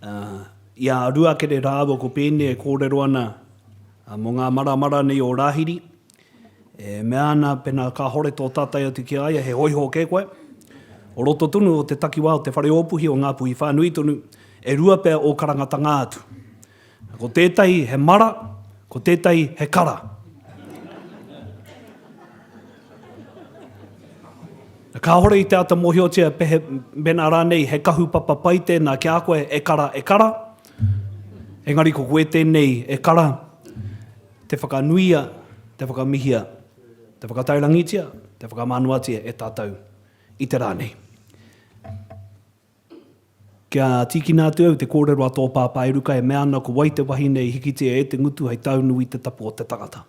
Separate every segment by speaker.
Speaker 1: Ā, i a Ruakere rāua ko Pēne e kōrero ana mō ngā maramara nei o Rāhiri, e mea ana, pēnā kāhore tō tātai atu ki a ia, he hōiho kē koe. O roto tonu o te takiwā o te whare ōpuhi o Ngāpuhi whānui tonu, e rua pea ō karangatanga atu. Ko tētahi he mara, ko tētahi he kara. Kāhore i te āta mōhiotia he, mēnā rānei he kahupapa pai tēnā ki a koe e kara, e kara, engari ko koe tēnei e kara, te whakanuia, te whakamihia, te whakataurangitia, te whakamānuatia e tātou i te rā nei. Kia tīkina atu au te kōrero a tō pāpā e ruka e mea ana ko wai te wahine i hikitia e te ngutu hei taunu i te tapu o te tangata.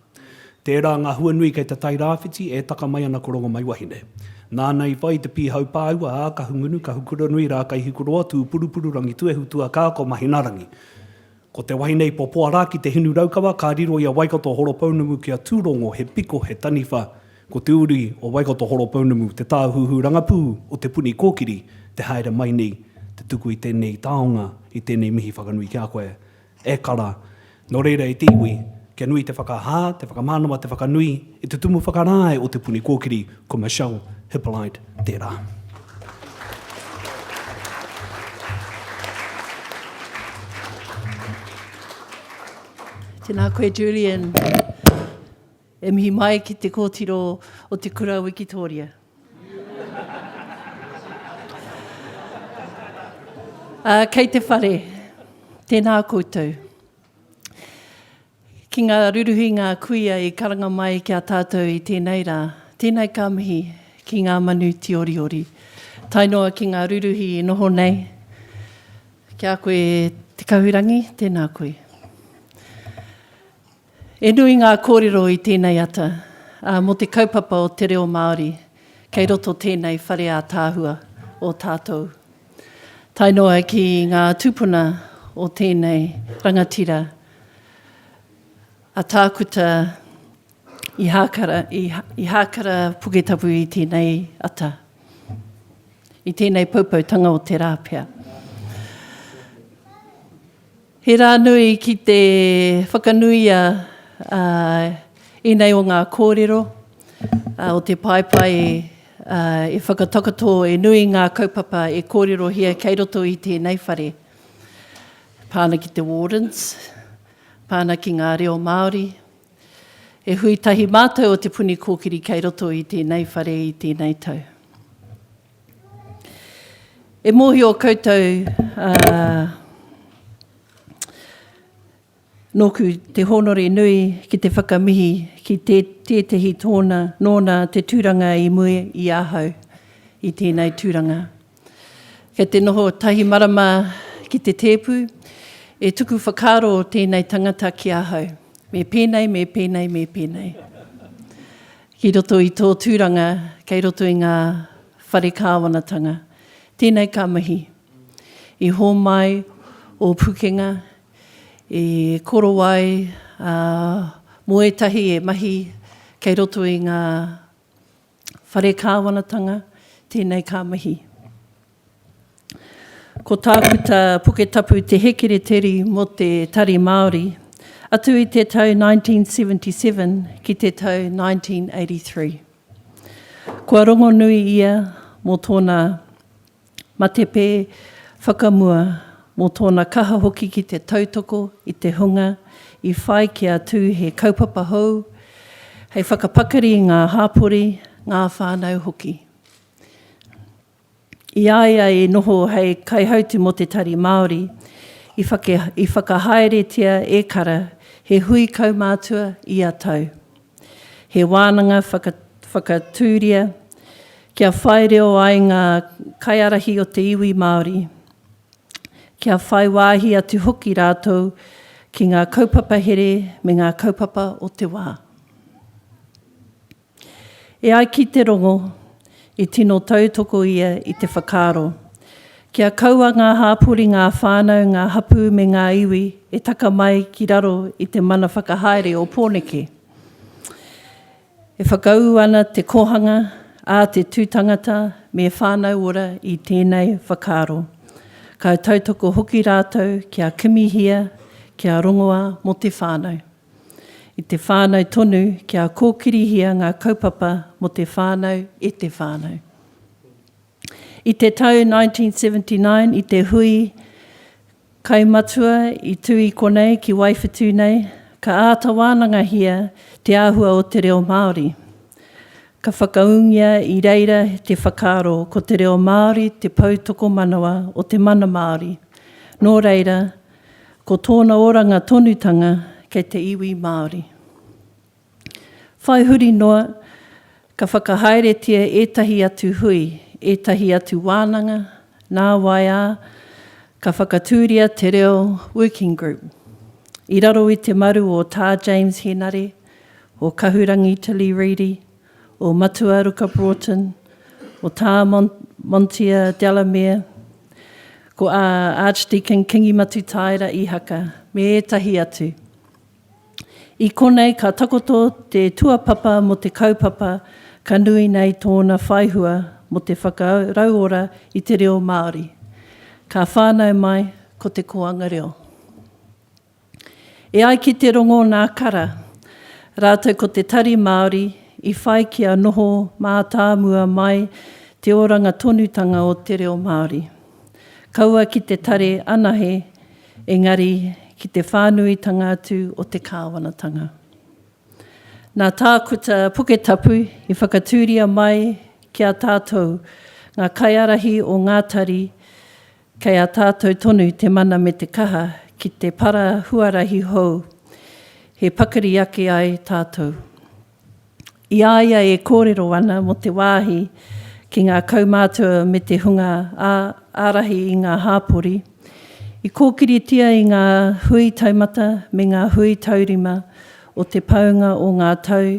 Speaker 1: Tērā ngā huanui kei te Tairāwhiti e taka mai ana ko Rongomaiwahine. Nāna i whai i te pīhau pāua a Kahungunu, Kahukuranui, Rākaihikuroa, Tūpurupururangi, Tuehutua, Kāko, Mahinarangi. Ko te wahine i popoa rā ki te hinu raukawa ka riro i a Waikato Horopounumu ki a Tūrongo he piko, he taniwha. Ko te uri o Waikato Horopounumu te tāhuhu rangapū o Te Puni Kōkiri, te haere mai nei, te tuku i tēnei taonga, i tēnei mihi whakanui ki a koe. E kara. Nō reira e te iwi. Kia nui te whakahā, te whakamanawa, te whakanui i te tumu whakarae o Te Puni Kōkiri, ko Michelle Hippolyte tērā.
Speaker 2: Tēnā koe Julian. E mihi mai ki te kōtiro o te kura o Wikitōria. uh, kei te whare, tēnā koutou. Ki ngā ruruhi ngā kuia i karanga mai ki a tātou i tēnei rā. Tēnei ka mihi ki ngā manu tīoriori. Tae noa ki ngā ruruhi i noho nei, ki a koe Te Kahurangi, tēnā koe. E nui ngā kōrero i tēnei ata, ā, mō te kaupapa o te reo Māori, kei roto tēnei whare ātaahua o tātou. Tae noa ki ngā tūpuna o tēnei rangatira, a Tākuta Ihākara, Ihākara Puketapu i tēnei ata, i tēnei poupoutanga o te rā pea. He rā nui ki te whakanuia ēnei o ngā kōrero o te paepae e whakatakoto e nui ngā kaupapa e kōrerohia kei roto i tēnei whare. Pā ana ki te Wardens, pā ana ki ngā reo Māori. He hui tahi mātou o Te Puni Kōkiri kei roto i tēnei whare i tēnei tau. E mōhio koutou, ā, nōku te hōnore nui ki te whakamihi ki tē, tētehi tōna, nōna te tūranga i mua i ahau i tēnei tūranga. Kei te noho tahi marama ki te tēpu, e tuku whakaaro tēnei tangata ki ahau, me pēnei, me pēnei, me pēnei. Ki roto i tō tūranga kei roto i ngā whare kāwanatanga. Tēnei ka mihi. I hōmai ō pukenga, i korowai ā, mō ētahi e mahi kei roto i ngā whare kāwanatanga, tēnei ka mihi. Ko Tākuta Puketapu te hēkereteri mō te Tari Māori, atu i te tau 1977 ki te tau 1983. Kua rongonui ia mō tōna matepe whakamua, mō tōna kaha hoki ki te tautoko i te hunga i whai kia tū he kaupapa hou hei whakapakari i ngā hāpori, ngā whānau hoki. I a ia i noho hei kaihautū mō te Tari Māori, i whakahaeretia e Kara he hui kaumātua ia tau, he wānanga whakatūria kia whai reo ai ngā kaiārahi o te iwi Māori, kia whai wāhi atu hoki rātou ki ngā kaupapa here me ngā kaupapa o te wā. E ai ki te rongo, i tino tautoko ia i te whakaaro, kia kaua ngā hāpori, ngā whānau, ngā hapū me ngā iwi e taka mai ki raro i te mana whakahaere o Pōneke. E whakaū ana te kōhanga a te tū tangata me Whānau Ora i tēnei whakaaro. Ka tautoko hoki rātou kia kimihia, kia rongoa mō te whānau. I te whānau tonu kia kōkirihia ngā kaupapa mō te whānau e te whānau. I te tau 1979 i te hui Kai Matua i tū i konei ki Waiwhetū nei, ka āta wānangahia te āhua o te reo Māori. Ka whakaūngia i reira te whakaaro ko te reo Māori te pou tokomanawa o te mana Māori, nō reira, Ko tōna oranga tonutanga kei te iwi Māori. Whai huri noa, ka whakahaeretia ētahi atu hui, ētahi atu wānanga, nāwai ā, ka whakatūria te reo Working Group. I raro i te maru o Tā James Henare, o Kahurangi Tilly Reedy, o Matuaruka Broughton, o Tā Montia Delamere, ko ā Archdeacon Kingi Matutaera Ihaka, me ētahi atu. I konei ka takoto te tuapapa mō te kaupapa ka nui nei tōna whaihua mō te whakarauora i te reo Māori. Ka whānau mai ko te koanga reo. E ai ki te rongo nā Kara, rātou ko te Tari Māori i whai kia noho mātāmua mai te oranga tonutanga o te reo Māori. Kaua ki te tare anahe engari ki te whānuitanga atu o te kāwanatanga. Nā Tākuta Puketapu i whakatūria mai ki a tātou ngā kaiārahi o ngā tari Kei a tātou tonu te mana me te kaha ki te para huarahi hou he pakari ake ai tātou. I a ia e kōrero ana mō te wāhi ki ngā kaumātua me te hunga ārahi i ngā hāpori, i kōkiritia i ngā hui taumata me ngā hui taurima o te paunga o ngā tau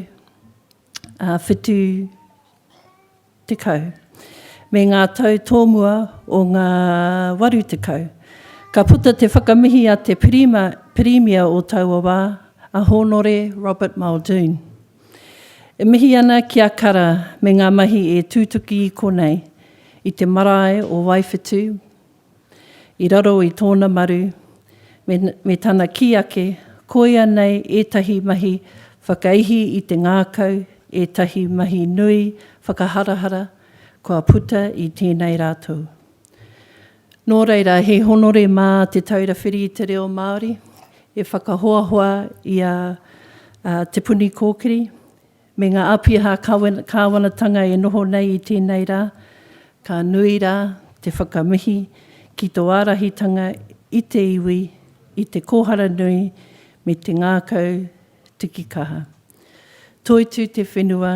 Speaker 2: ā, whitu tekau, me ngā tau tōmua o ngā waru tekau. Ka puta te whakamihi a te Pirima, Pirimia o taua wā, a Hōnore Robert Muldoon. E mihi ana ki a Kara me ngā mahi e tūtuki i konei, i te marae o Waiwhetū, I raro i tōna maru, me tana kī ake, koia nei ētahi mahi whakaihi i te ngākau, ētahi mahi nui whakaharahara kua puta i tēnei rā tou. Nō reira, he honore mā Te Taura Whiri i te Reo Māori e whakahoahoa i a Te Puni Kōkiri, Me ngā āpiha kāwanatanga e noho nei i tēnei rā, ka nui rā te whakamihi ki tō ārahitanga i te iwi, i te kōhara nui me te ngākau tiki kaha. Toitū te whenua,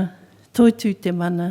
Speaker 2: toitū te mana,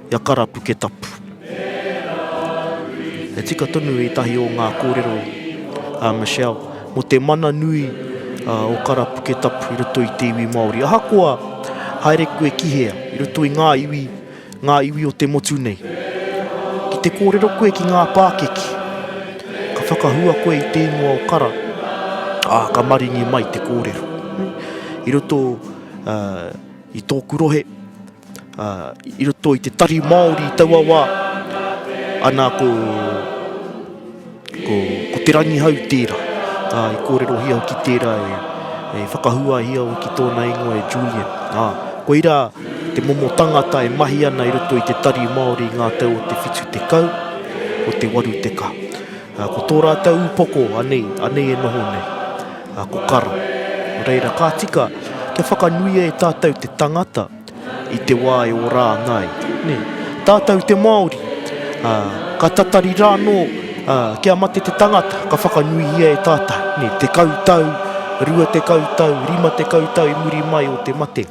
Speaker 3: I a Karapuketapu. He tika tonu ētahi o ngā kōrero a Michelle mō te mana nui o Karapuketapu i roto i te iwi Māori. Ahakoa haere koe ki hea, i roto i ngā iwi, ngā iwi o te motu nei, ki te kōrero koe ki ngā pākeke, ka whakahua koe i te ingoa o Kara, ā, ka maringi mai te kōrero. I roto, ā, I tōku rohe, i roto i te tari Māori i taua wā, ana ko, ko, ko Te Rangihau tērā. Ā, i kōrerohia hoki tērā e, e whakahuahia hoki tōna ingoa e Julian. Ā, koirā te momo tangata e mahi ana i roto i te tari Māori i ngā tau o te whitu tekau, o te waru tekau. Ā, ko tō rātou upoko, anei, anei e noho nei. a Kokara. Nō reira, ka tika kia whakanuia e tātou te tangata i te wā e ora ana ai. Nē, tātou te Māori, ā, ka tatari rānō, ā, kia mate te tangata, ka whakanuihia e tātou, nē, tekau tau, rua tekau tau, rima tekau tau i muri mai o te mate.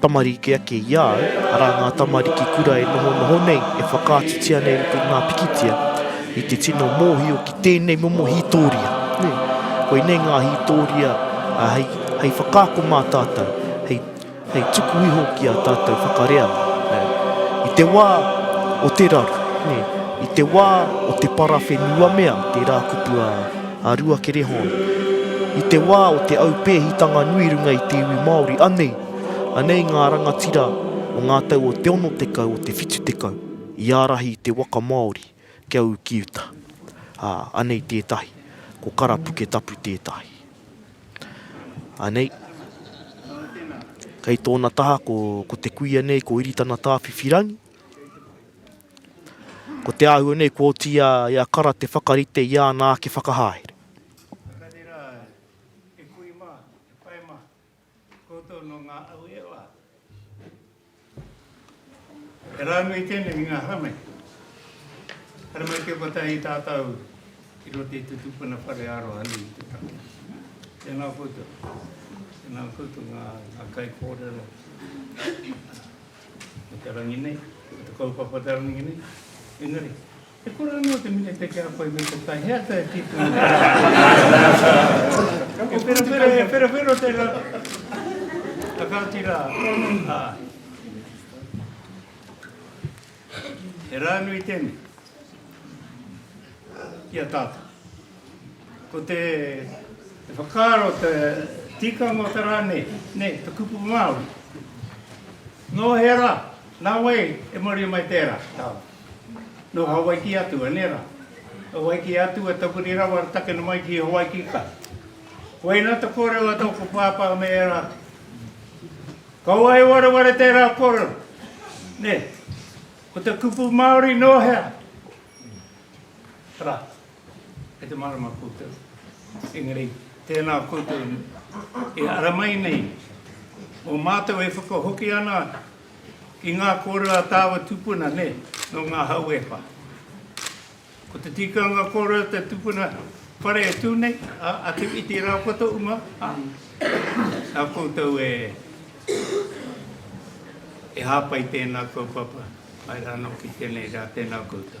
Speaker 3: Tamariki ake i a au, arā ngā tamariki kura e nohonoho nei, e whakaatutia nei i te ngā pikitia, i te tino mōhio ki tēnei momo hītōria. Nē, koinei ngā hītōria hei, hei whakaako mā tātou, hei, hei tuku iho ki a tātou whakareanga. Nē, i te wā o te raru, nē, i te wā o te parawhenuamea, tērā kupu a, a Ruakere Hon. I te wā o te aupēhitanga nui runga i te iwi Māori, anei, Anei ngā rangatira o ngā tau o te ono tekau, o te whitu tekau, i ārahi i te waka Māori kia ū ki uta. Ā, anei tētahi, ko Kara Puketapu tētahi. Anei. Kei tōna taha ko, ko te kuia nei, ko Iritana Tāwhiwhirangi. Ko te āhua nei, ko oti a, i a Kara te whakarite i āna ake whakahaere. Koutou nō
Speaker 4: ngā au e wā. He rā nui tēnei i ngā haramai. Haramai kia kotahi tātou i roto i te tupuna whare aroha nui i te tangata. Tēnā koutou. Tēnā koutou ngā, ngā kai kōrero. Mō te rangi nei, mō te kaupapa te rangi nei. Engari. He kura anō te minete ki a koe me te tae, he ata e tīpuna te rā. He wherawhero, he wherawhero te rā. Ka kāti rā, ā. He rā nui tēnei ki a tātou. Ko te whakaaro te tikanga o te rā nei, te kupu Māori. Nō hea rā? Nā wai e maria mai tērā? Nō Hawaiki atu, anei rā? Nō Hawaiki atu e tapuri rawa aratake mai ki Hawaiki ka. Koina te kōrero a tōku pāpā me ērā atu. Kaua e wareware tērā kōrero. Nē, ko te kupu Māori nō hea? Rā. Kei te marama koutou. Engari, tēnā koutou e ara mai nei, mō mātou e whakahoki ana ki ngā kōrero a tāua tupuna, nē, nō ngā hau e wha. Ko te tikanga kōrero a te tupuna whare e tū nei, a Te Whiti rā ko tō uma, a, nā koutou e, e hāpai tēnā kaupapa, mai rānō ki tēnei rā, tēnā koutou.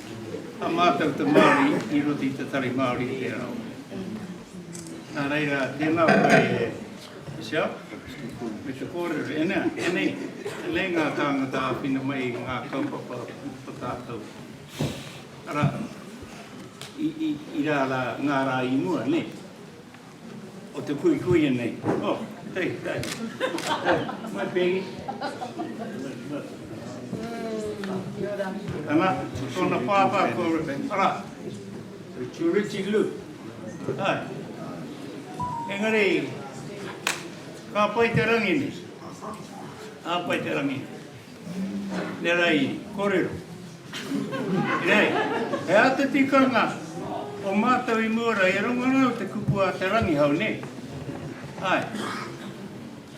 Speaker 4: A mātou te Māori i roto i te Tari Māori i te Reo. Nā reira, tēnā koe e Michelle, me te kōrero, e nā, e nei, e nei ngā tāngata āwhina mai i ngā kaupapa o tātou. Arā, i, i, i rā rā, ngā rā i mua, nei. o te kuikuia nei. Oh, hey, hey. Mai pēgi. Ana, tōna pāpā ko Ara. Ko Richie Lu. Hai. Engari, ka pai te rangi ni. Ka pai te rangi. Nera i korero. Nei, he aha te tikanga o matou i mua ra e rongo ana o te kupu a te Rangihau, ne? Ae.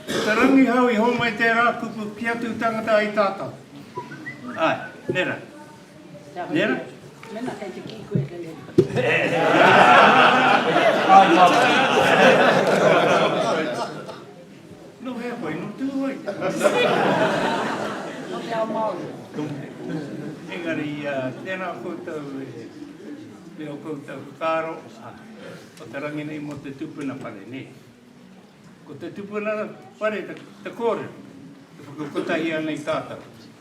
Speaker 4: Ko te Rangihau i homai tera kupu ki atu tangata ai tatou. Ae, nera. Nera?
Speaker 2: Mena kei
Speaker 4: te ki koe kei he. No hea koe, no Tūhoe.
Speaker 2: No te ao Māori.
Speaker 4: Engari, tēnā koutou e reo koutou whakaaro, o te rangi nei mō te tupuna whare, nē. Ko te tupuna whare te kōrero, te whakakotahi ana i tātou.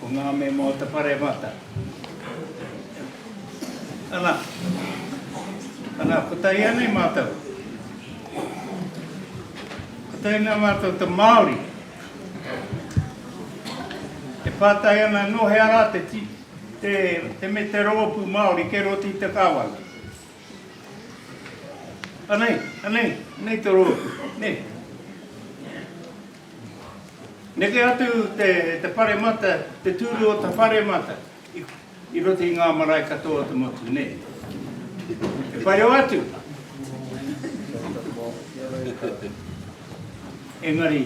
Speaker 4: Ko ngā mema o te Paremata. Ana. Ana, ko tai anei mātou. Ko tai anei mātou te Māori. E pātai ana anō he ara te, te, te me te rōpū Māori ke roti te kāwana. Anei, anei, anei te rōpū. Nei. Neke atu te paremata, te tūru o ta wharemata i roto i ngā marae katoa o te motu, nē? E whai rawa atu. Engari,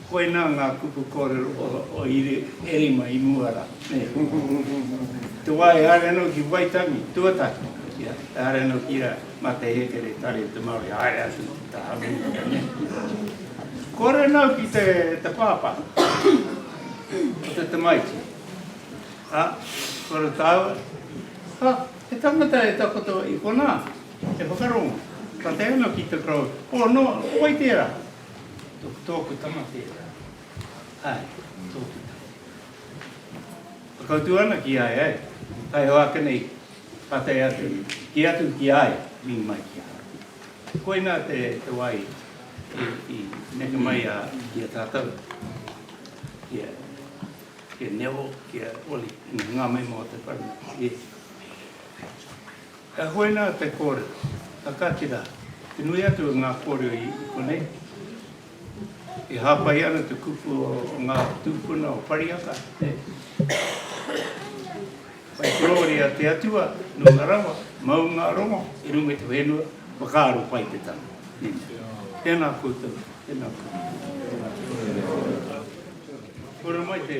Speaker 4: koinā ngā kupu kōrero o Iri e rima i mua rā, nē? Te wā e haere ana ki Waitangi, tuatahi, e haere ana ki a. Ma te hekere tare te Maori haere atu ki te Hanuira ne. Kore nau ki te te papa. Ko te tamaiti. Ha, kore tau. Ha, he tangata e takoto i kona, e whakarongo. Ka te ano ki te kro. O no, oi tera. To, toku tama tera. Hai, toku tama. Pakautu ana ki ai, hai. Hai hoa kene i. Ka tae atu, kī atu ki a ia, Mimi mai ki ahau. Koina te wai i neke mai a ia tātou, ki a Nevo, ki a Oli, me ngā mema o te whānau o Iesu. Ka koina te kōrero, ka kati rā, te nui atu o ngā kōrero i konei, e hāpai ana te kupu o ngā tūpuna o Parihaka, e. Whai korore a te Atua, nunga rawa, maunga rongo, i runga i te whenua, whakaaro pai te tama. Amen. Tēnā koutou, tēnā koutou. Kore mai te.